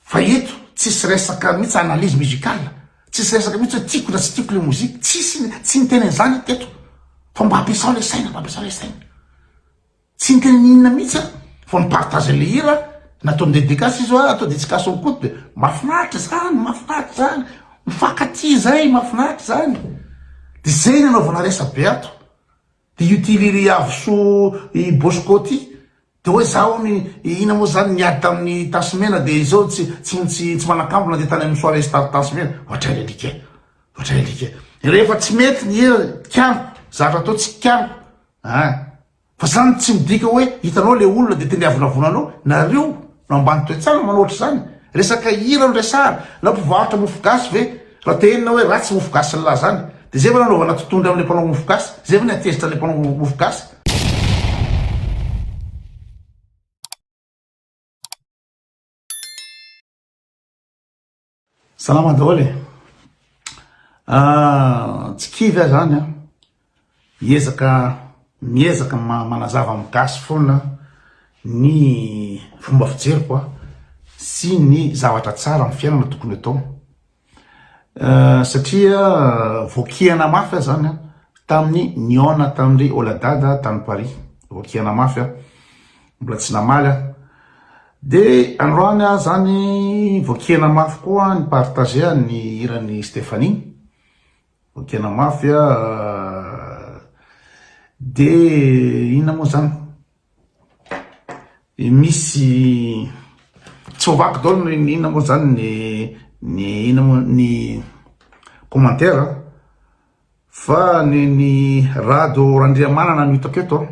Fa eto tsisy resaka mihitsy analyse musicale, tsisy resaka mihitsy hoe tiako na tsy tiako le mozika, tsisy, tsy niteny an'izany aho teto fa mba ampiasao le saina, mba ampiasao le saina. Tsy niteny ny inona mihitsy aho fa mi-partage le hira, nataony dédicace izy hoa, atao dédicace ao koto de mahafinaritra zany, mahafinaritra zany, mifankatia zay, mahafinaritra zany. De zay ny anaovana resabe ato. De io ty ry Avoso i Bosco ty de hoe za hono ina moa zany niady tamin'ny tasy mena de izao tsy tsy tsy manakambo na de tany amin'ny soirée star tasy mena ohatray alika e ohatray alika e rehefa tsy mety ny hira kianiko zavatra atao tsy kianiko a fa zany tsy midika hoe hitanao le olona de tendeavonavonanao nareo No ambany toe-tsaina manao ohatr'izany? Resaka hira no resahana? Na mpivarotra mofo gasy ve? Raha te henona hoe ratsy mofo gasy ny lahy izany, dia izay ve no hanaovana totohondry amin'ilay mpanao mofo gasy? Izay ve no hatezitra an'ilay mpanao mofo gasy? Salama daholo e ah, tsy kivy aho zany a miezaka miezaka manazava amin'ny gasy foana ny fomba fijeriko a sy ny zavatra tsara amin'ny fiainana tokony atao ah, satria voakihana mafy aho zany a tamin'ny niona tamin'ndry oladada tany paris voakihana mafy aho Mbola tsy namaly aho. De androany aho zany vao kiana mafy koa ny partager ny hiran'i Stéphanie. Vao kiana mafy aho. De inona moa zany? Misy tsy ho vaky daholo ny inona moa zany ny ny inona moa ny commentaire fa ny ny Rado Randriamanana no hitako eto a.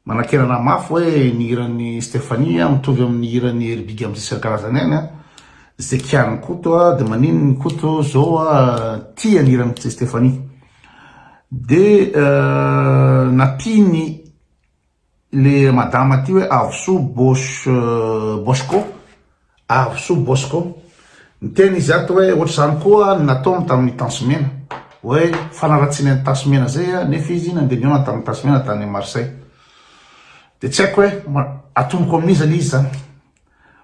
Manakerana mafy hoe ny hiran'i Stephanie mitovy amin'ny hiran'i Hery Big amin'ny sisiny karazany ihany an! Izay kianin'i Koto an! Dia maninona i Koto izao tia ny hiran'i Stephanie? Dia nampiany ilay madama ity hoe Avosoa Bosch Boschko. Avo soa Bosco. Niteny izy ato hoe ohatr'izany koa ny nataony tamin'ny Tansy Mena. Hoe fanaratsiana ny Tansy Mena izay nefa izy nandeha nihaona tamin'ny Tansy Mena tany Marseille. Dia tsy haiko hoe atomoko amin'iza ilay izy izany.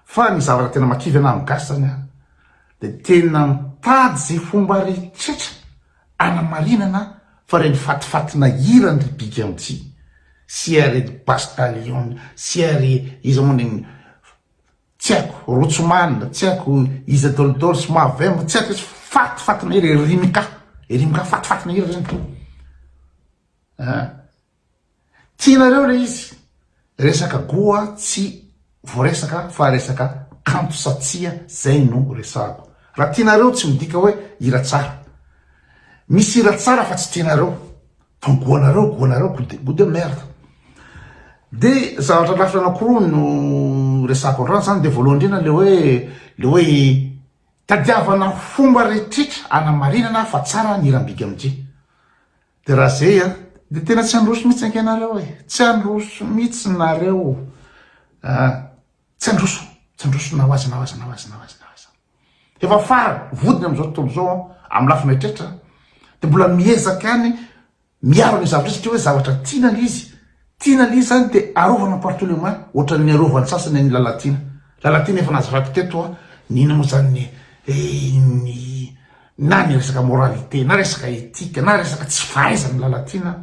Fa ny zavatra tena makivy anahy amin'ny gasy izany dia tena mitady izay fomba rehetra anamarinana fa ireny fatifatina hiran ry Big Anti sy ry Bastalion sy ry iza moa ny tsy haiko Rotsman, tsy haiko iza dolidoly sy mavemba, tsy haiko izy faty faty mahery e Rimka, e Rimka faty faty mahery ireny to ah tianareo le izy resaka goa tsy voaresaka fa resaka kanto sa tsia zay no resahako raha tianareo tsy midika hoe hira tsara misy hira tsara fa tsy tianareo Fa goanareo, goanareo, goût de, goût de merde. De zavatra lafiny anankiroa no resako androany zany, de voalohany indrindra le hoe, le hoe tadiavana fomba rehetrretra anamarinana fa tsara ny hiran'i Big MJ. De raha zay an, de tena tsy handroso mihitsy ange nareo e, tsy handroso mihitsy nareo ah. Tsy androso, tsy androso nawaza nawaza nawaza nawaza nawaza. Efa farany, vodiny amin'izao tontolo izao an, amin'ny lafiny rehetrretra an, dia mbola miezaka ihany miaro an'io zavatra io satria hoe zavatra tiana ilay izy, tiana ilay izy izany dia arovana par tous les moyens, ohatran'ny arovan'ny sasany an'i Lalatiana. Lalatiana efa nazavaiko teto an, ny inona moa izany ny ny na ny resaka moralité na resaka éthique na resaka tsy fahaizan'i Lalatiana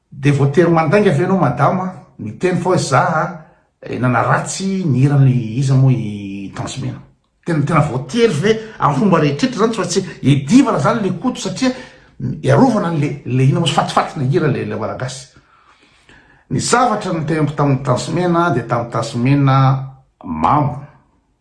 Dia voatery mandainga ve ianao madama a? Miteny fa hoe za a nanaratsy ny hiran'i iza moa i Tanzmena? Tena tena voatery ve amin'ny fomba rehetrretra zany fa tsy edivana zany le Koto satria iarovana an'le le ino moa fatifaty le hira le le Malagasy. Ny zavatra niteny tamin'i Tanzmena dia tamin'i Tanzmena mamo.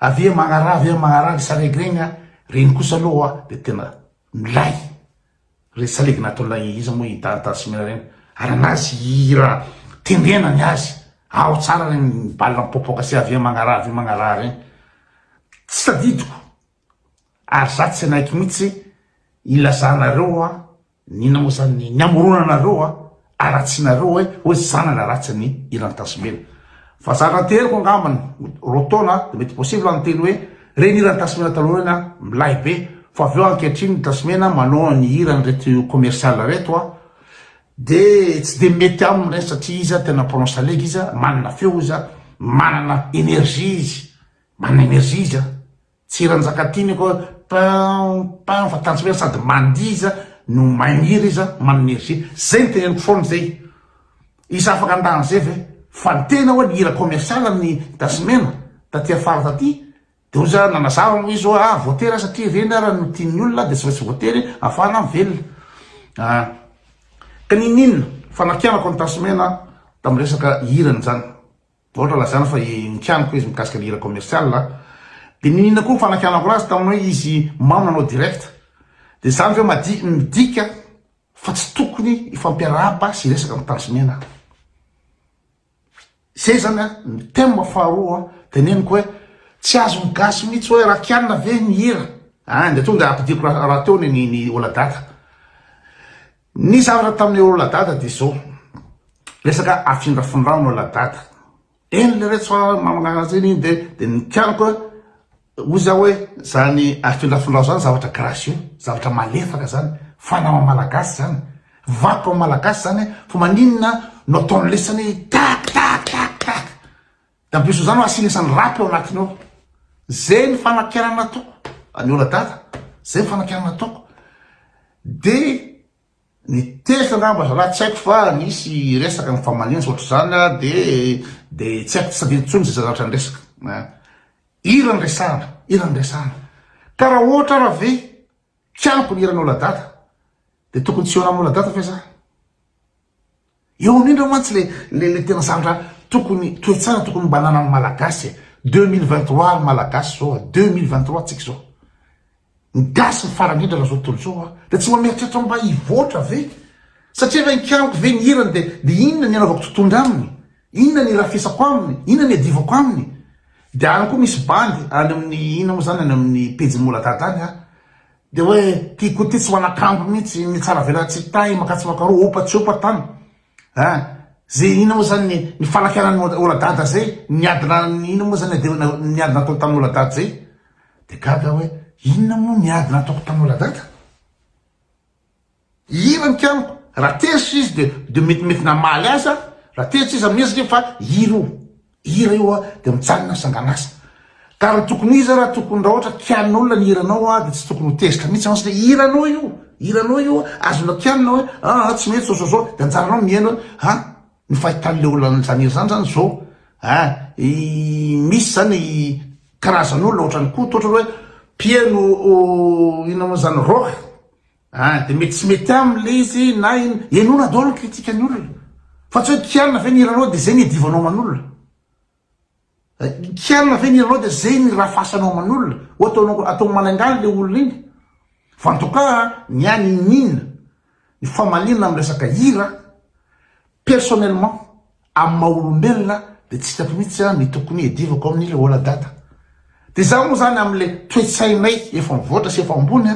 Avy eo magnaraha avy eo magnaraha ny salegy regny a, regny kosa aloha dia tena milay, regny salegy nataon'ilay iza moa i Dada Simena regny, arahanazy hira tendrena ny azy, ao tsara regny bal mipoapoaka sy avy eo magnaraha avy eo magnaraha regny, tsy tadidiko ary za tsy hanaiky mihitsy ilazanareo a. Ny nanao izany ny hamorona anareo a, haratsianareo hoe hoe zanana ratsy ny Iran Tasimena. Fa za raha teriko angambany roa taona dia mety possible ny teny hoe reny Iran Tasimena taloha reny a, milay be fa avy eo ankehitriny ny Tasimena manao ny hira an'ireto commercial reto a, dia tsy dia mety aminy reny satria izy a tena mpanao salegy izy a, manana feo izy a, manana energie izy, manana energie izy a. Tsy Ranjakatiana ko pam pam fa tanjomena sady mandihy izy no magniry izy manome energie zay no teneniko foana zay izy afaka handà an'izay ve fa ny tena oe hira commercial ny tasimena taty afara taty de ozy ah nanazava aloha izy oe ah voatery ah satria ireny ara no tian'ny olona de tsy maintsy voatery afahana mivelona ah ka ninoninona fa nampianako an'i tasimena tamin'ny resaka hirany zany Vao ohatra lazaina fa nikianiko izy mikasika ny hira commercial a. Dia niniana koa ny fanakianako azy tamin'ny hoe izy mamy nanao direct. Dia izany ve madi- midika fa tsy tokony hifampiarahaba sy hiresaka amin'ny tanjomena? Izay izany a, ny thème faharoa teneniko hoe tsy azon'ny gasy mihitsy hoe raha kianina ve ny hira? An, dia tonga ampidiriko ra- rahateo ny ny ny ola daka. Ny zavatra tamin'i Oladada dia izao, resaka afindrafindrany Oladada, eny le reto fa mamanaratra eny iny dia dia nikianako hoy za hoe zany afindrafindrao zany zavatra gracieux, zavatra malefaka zany, fanao amin'ny Malagasy zany, vakoka amin'ny Malagasy zany fa maninona no ataony lesany tak tak tak tak. Da mpiroso zany asiany isany rap eo anatiny ao. Zay ny fanakianana nataoko. An'i Ola Dada. Zay ny fanakianana nataoko. De ny tezitra angamba zalahy tsy haiko fa nisy resaka ny famaliana sy ohatr'izany de de tsy haiko tsy tadidiko tsony ze zavatra niresaka. An. Hira ny resahana, hira ny resahana. Ka raha ohatra ara ve tsy ampy ny hiran'i Ola Dada de tokony tsy hihaona amin'i Ola Dada ve za? Eo amin ireo mantsy le le le tena zavatra tokony toetsara tokony mba ananan'ny malagasy e! deux mille vingt trois ry malagasy zao a! deux mille vingt trois tsika zao ny gasy ny farany indrindra zao tontolo zao a! de tsy mba mieritreritra mba hivoatra ve? satria ve nikariko ve ny hirany de de inona ny anaovako totohondry aminy? inona ny irafesako aminy? inona ny iadivako aminy? de any koa misy bandy any amin'ny inona moa zany any amin'ny pejin'i moladada any a! Dia hoe ty koa ty tsy manakambo mihitsy ny tsara vela tsy tahy maka tsy maka roa opa tsy opa tany eh ze ina moa zany ny ny falakianan'ny oladada zay ny ady na ny ina moa zany de ny ady nataony tamin'ny oladada zay de gaga hoe inona moa ny ady nataoko tamin'ny oladada Hira ny piano. Raha tezitra izy dia dia mety mety namaly azy an. Raha tezitra izy amin'iny satria fa hira io. Hira io an dia mijanona ny sanganasa. Ka raha tokony iza raha tokony raha ohatra kianin'olona ny hiranao an dia tsy tokony ho tezitra mihitsy an satria hiranao io. Hiranao io an. Azonao kianina hoe aa tsy mety sososo dia anjaranao mihaino hoe ha ny fahitan'ilay olona hanao izany hira izany izany izao an. Misy izany karazan'olona ohatran'i Koto ohatra hoe mpihaino inona moa izany rock. Ah de mety tsy mety aminy le izy na ino, henoina daholo ny critique ny olona fa tsy hoe kianina ve ny hiranao de zay ny hiadivanao aman'olona, kianina ve ny hiranao de zay ny raha fasanao aman'olona, ho ataonao atao malaingaly le olona iny fa en tout cas ny ahy niniana ny famaliana amin'ny resaka hira personnellement. Amin'ny maha olombelona dia tsy hitako mihitsy ny tokony hiadivako amin'i le ola dada. Dia za moa zany amin'le toe-tsainay efa mivoatra sy efa ambony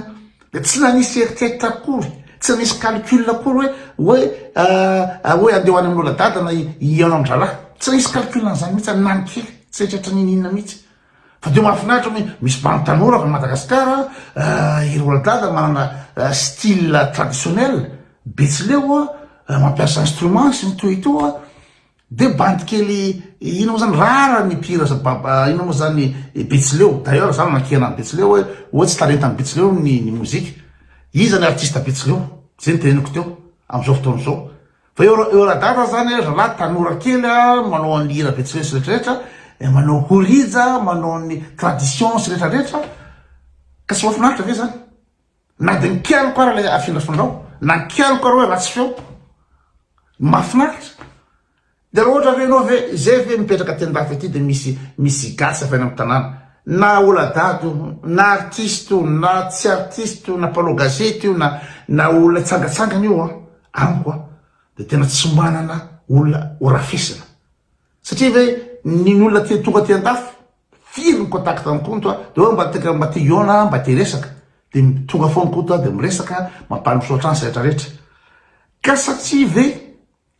dia tsy nanisy eritreritra akory, tsy nanisy calcul akory hoe hoe ah hoe andeha ho any amin'i ola dada na i an-drahalahy. Tsy nanisy calcul an'izany mihitsy aho na ny kely, tsy neritreritra n'inon'inona mihitsy. Fa dia mahafinaritra hoe misy bandy tanora avy any Madagasikara an, i Roald Dahl manana style traditionnel, Betsileo an, mampiasa instrument sy ny toy itoa, dia bandy kely inona moa izany rariny ny mpihira za ba ba inona moa izany i Betsileo, d'ailleurs za nankiana an'i Betsileo hoe hoe tsy talentan'i Betsileo ny ny mozika, iza ny artiste Betsileo, zay no teneniko teo, amin'izao fotoana izao. Fa eo eo radara zany eh, zalahy tanora kely a, manao an'ny hira betsileo sy retraretra, eh, manao horija, manao ny tradition sy retraretra, ka tsy mafinaritra ve zany? Na de mikialoka ara le afindrafindrao, na mikialoka ara hoe ratsy feo, mafinaritra. De raha ohatra ve ianao ve, izay ve mipetraka aty andafy aty de misy misy gasy avy any amin'ny tanàna, na oladady io, na artiste io, na tsy artiste io, na mpanao gazety io, na na olona hitsangatsangana io an, Amiko a de tena tsy manana olona ho rafesina satria ve ny ny olona tonga aty andafy firy ny contact an'i Koto a de hoe mba teka mba te hihaona aho mba te hiresaka de tonga foana Koto a de miresaka mampaly misaotra ahy ny sehatra rehetra ka satria ve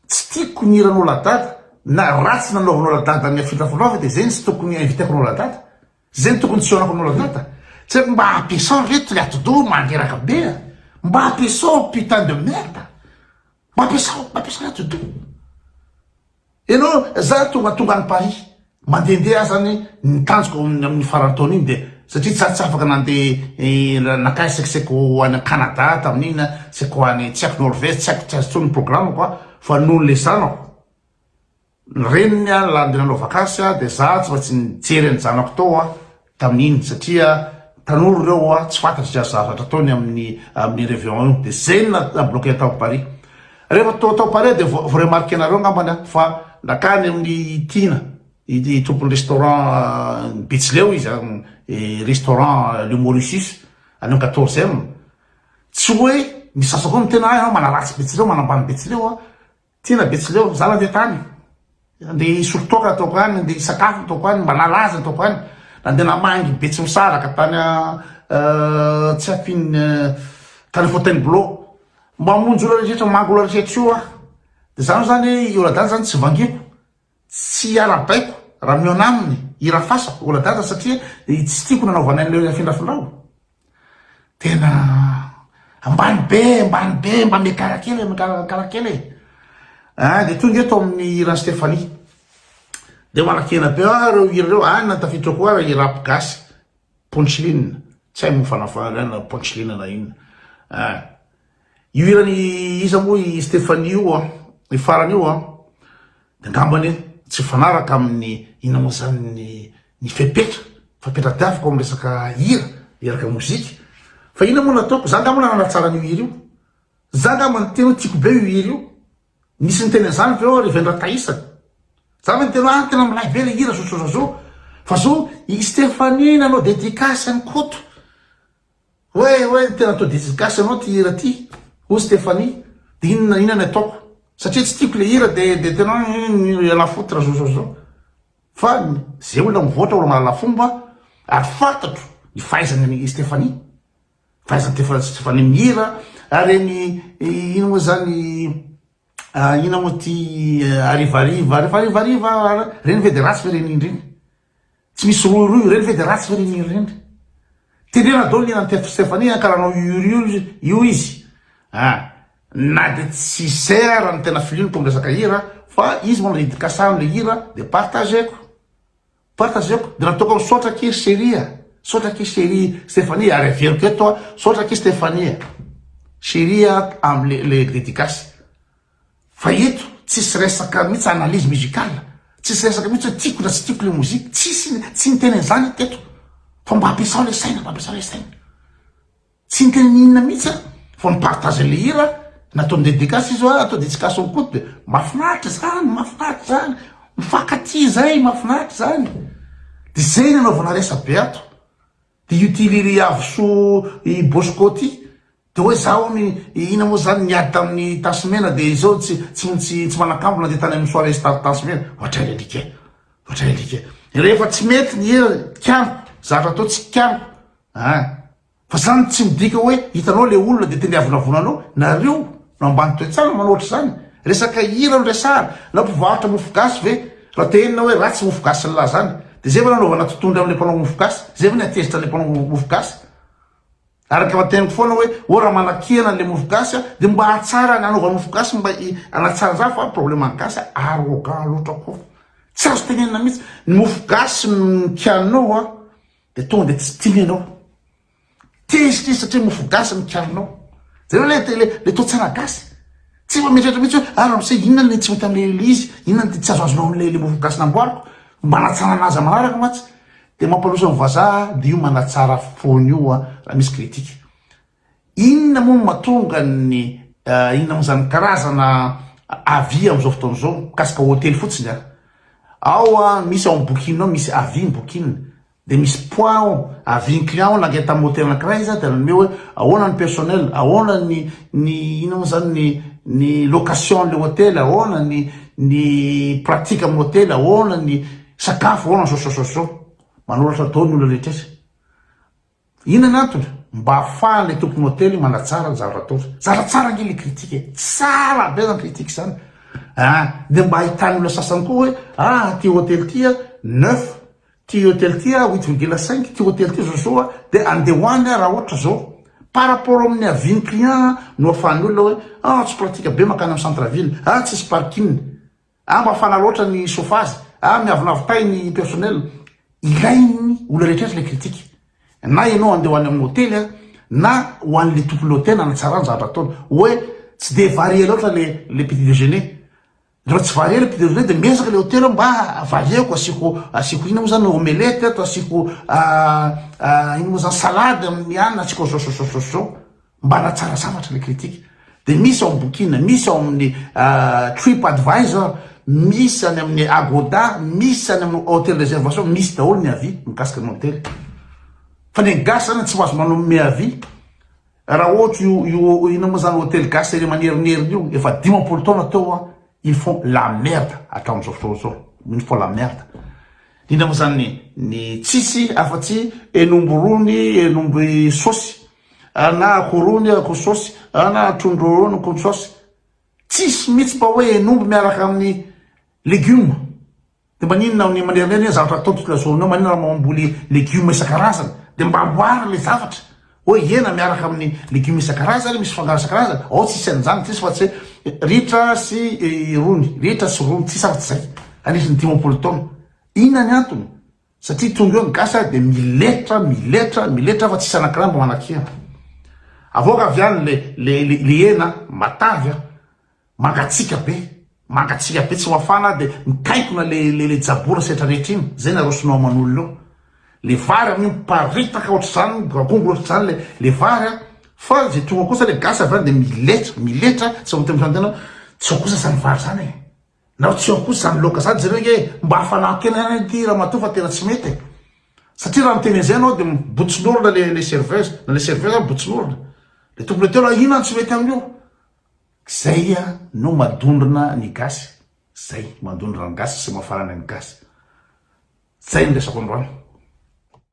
tsy tiako ny hiranao ladada na ratsy nanaovanao ladada ny afindrafonao ve de zay no tsy tokony inviteko anao ladada Zay no tokony tsy hihaonako aminao Lavita, tsy haiko mba ampiasao re tily atidoha mandreraka be a! Mba ampiasao putain de merde! Mba ampiasao, mba ampiasao atidoha! Ianao, za tonga tonga any Paris, mandehandeha azany ny tanjoko amin'ny amin'ny faran'ny taona iny dia satria za tsy afaka nandeha nankany saika saika ho any an Canada tamin'iny a, saika ho any tsy haiko Norvège, tsy haiko, tsy azo intsony ny programme-ko a, fa noho le zanako. Ny reniny a lany de nanao vakansy a de za tsy maintsy nijery an'i zanako tao a tamin'iny satria tanora ireo a tsy fantatry zay zavatra ataony amin'ny amin'ny reveillon io de zay no na bloquer tao Paris rehefa to tao Paris de vo remarquer nareo ngambany aho fa nakany amin'ny Tina ity tompon'ny restaurant ny betsileo izy an i restaurant le Mauritius any amin'ny quatorzième tsy hoe misasa koa ny tena ahy a manaratsy betsileo manambany betsileo a Tena Betsileo ry zala teto any, andeha hisolo toaka ataoko any, andeha hisakafo ataoko any, mba nalaza ataoko any, nandeha namangy Betsimisaraka tany euh, tsy ampian'ny euh, tany Fontainebleau, mamonjy olona rehetra, mamangy olona rehetra eo aho, de zany zany hoe i Oradany zany tsy vangiko. Tsy arahabaiko raha mihaona aminy i Rafasa oladaza satria tsy tiako nanaovanay an'ireo afindrafindrao. Tena ambany be ambany be mba miakara kely miakarakara kely e. Ah dia tonga eto amin'ny hiran'i Stéphanie. Dia manakena be ah ireo hira ireo any na tafiditra koa ary rap gasy punchline tsy hay moa fanafana na punchline na inona ah. Io hiran'i iza moa i Stephanie io an? Io farany io an? De ngambany tsy mifanaraka amin'ny inona moa zany ny ny fepetra fa fepetra tiaviko amin'ny resaka hira miaraka mozika fa inona moa no ataoko za ngambany nanatsara an'io hira io za ngamba niteny hoe tiako be io hira io nisy niteny an'zany ve eo ary Vendratahisa za ve niteny hoe ah tena milay be le hira zozozazo fa zao i Stephanie nanao dedicace an'i Koto Oe oe tena to dedicace anao ty hira ty oh Stephanie de inona na inona ny ataoko satria tsy tiako le hira de de tena hoe iala foutre zao zao zao fa ze olona mivoatra olona mahalala fomba ary fantatro ny fahaizany an'i Stephanie fahaizany tefa Stephanie mihira ary ny ino moa zany ina moa ty arivariva arivariva reny ve de ratsy ve reny indreny Tsy misy rohirohy ireny ve dia ratsy ve ny mihira ireny? Tenena daholo ny hiran'i Teto Stephanie an ka raha anao iorio io izy an na dia tsy sera raha ny tena filiany ko miresaka hira fa izy manao dedikasa an'ilay hira dia partageko partageko dia nataoko misaotra akia ry cherie a misaotra akia cherie Stephanie ary averiko eto an misaotra akia Stephanie a cherie a amin'ilay dedikasy Fa eto tsisy resaka mihitsy analyse musicale, tsisy resaka mihitsy hoe tiako na tsy tiako le mozika, tsisy, tsy niteny an'izany eto teto fa mba ampiasao le saina, mba ampiasao le saina. Tsy niteny n'inona mihitsy aho fa mi-partager le hira nataon'i Dedicas izy hoa atao Didicas ao Koto de mahafinaritra izany, mahafinaritra izany, mifankatia izay, mahafinaritra izany. De zay no anaovana resabe ato. Dia io ty ry Iavosò i Bosco ty dia hoe za hono ina moa zany niady tamin'ny tasy mena dia izao tsy tsy tsy manakambona dia tany amin'ny soirée star tasy mena. Ohatray alika e! Ohatray alika e! Rehefa tsy mety ny hira kianiko, zavatra atao tsy kianiko a! Fa zany tsy midika hoe hitanao le olona dia tendeavonavonanao nareo Raha ambany toe-tsaina manao ohatr'izany, resaka hira no resahana, na mpivarotra mofogasy ve? Raha te henona hoe ratsy mofogasin'lah izany, dia zay ve no hanaovana totondra amin'ilay mpanao mofogasy? Zay ve no hatezitra an'ilay mpanao mofogasy? Ary ny teniko foana hoe, ô raha manakihana an'ilay mofogasy dia mba hahatsara ny hanaovany mofogasy mba hanatsara an'izany fa ny probleman'ny gasy arrogant loatra koa. Tsy azo tenenina mihitsy. Ny mofogasy no kianao dia tonga dia tsy tiany ianao. Tezitra izy satria mofo gasy no kiarinao. Jereo le le le to tsara gasy. Tsy efa mieritreritra mihitsy hoe ah ramose inona le tsy mety amin'ilay le izy, inona le tsy azoazonao amin'ilay le mofo gasy namboariko. Manatsara anazy amin'ny manaraka mantsy. Dia mampandroso ny vazaha dia io manatsara foana io a raha misy critique. Inona moa no mahatonga ny inona moa izany karazana avis amin'izao fotoana izao mikasika hotely fotsiny a. Ao a misy ao amin'ny bokinao misy avis ny bokinina. Dia misy poids ao avian'ny client ao naka entana moteur anankiray iza dia nanome hoe ahoana ny personnel, ahoana ny ny inona moa izany ny ny location ilay hotely, ahoana ny ny pratique amin'ny hotely, ahoana ny sakafo, ahoana zao zao zao zao. Manoratra daholo ny olona rehetra iza. Inona ny antony? Mba ahafahan'ilay tompony hotely manatsara ny zavatra ataony. Zara tsara ange ilay critique e! Tsara be zany critique zany an! Dia mba ahitan'ny olona sasany koa hoe ah ity hotely ity a neuf, ity hotely ity a huit virgule cinq, ity hotely ity zao zao a, dia andeha ho any aho raha ohatra zao. Par rapport amin'ny avis-n'ny client no ahafahan'ny olona hoe ah tsy pratique be mankany amin'ny centre ville, ah tsisy parking. Ah mba fana loatra ny chauffage ah miavonavo tay ny personnel ilainy olona rehetra ilay critique na ianao andeha ho any amin'ny hotely ah na ho an'ilay tompon'ilay hotely hanatsarana ny zavatra ataony hoe tsy dia varié loatra ilay ilay petit déjeuner raha tsy varié ilay petit déjeuner dia miezaka ilay hotely mba varieko asiako asiako inona moa izany omelette ato asiako ino moa izany salade amin'ny anona asiako zao zao zao zao zao Mba hanatsara zavatra ilay kritika dia misy ao amin'ny Bookin, misy ao amin'ny Trip Advisor, misy any amin'ny Agoda, misy any amin'ny Hotel Reservation, misy daholo ny avis mikasika ny hotely. Fa ny gasy zany tsy mahazo manome avis. Raha ohatra io io ina moa zany hotely gasy ery manerinerina io efa dimampolo taona teo an, ils font la merde hatramin'izao fotoana izao. Ils font la merde. Indrindra moa zany ny ny tsisy afa-tsy henomby rony, henomby saosy. Ana ako rony ako sosy ana trondro rony ko sosy tsisy mitsy mba hoe henomby miaraka aminy legume de maninona aminy manerana eny zavatra atao tontolo zone maninona raha mamboly legume isan-karazany de mba amboary le zavatra hoe hena miaraka aminy legume isan-karazany misy fangaro isan-karazany ao tsisy an'izany tsisy fa tsy ritra sy rony ritra sy rony tsisy afa tsy zay anisany dimampolo taona inona ny antony Satria tonga eo ny gasy ary dia miletra, miletra, miletra fa tsisy anankiray mba manakihana. Avoaka avy any le, le, le, le hena matavy an, mangatsiaka be, mangatsiaka be tsy mafana dia mitaikona le, le, le jabora setra rehetra iny, zay nareo sinoa aman'olona eo. Le vary amin'io miparitaka ohatr'izany, migoagoa ohatr'izany le, le vary an, fa zay tonga kosa le gasy avy any dia miletra, miletra, tsy ho tena tena, tsy ho kosa zany vary zany e. Nareo tsy eo kosa zany loka zany jereo nge mba afanaho kely any ity ramatoa fa tena tsy mety e satria raha miteny an'izay ianao dia botsin'orona le le serveuse na le serveuse ary botsin'orona le tompony hotely hoe inona no tsy mety amin'io zay a no madondrona ny gasy zay madondrona ny gasy sy mafarana ny gasy zay ny resako androany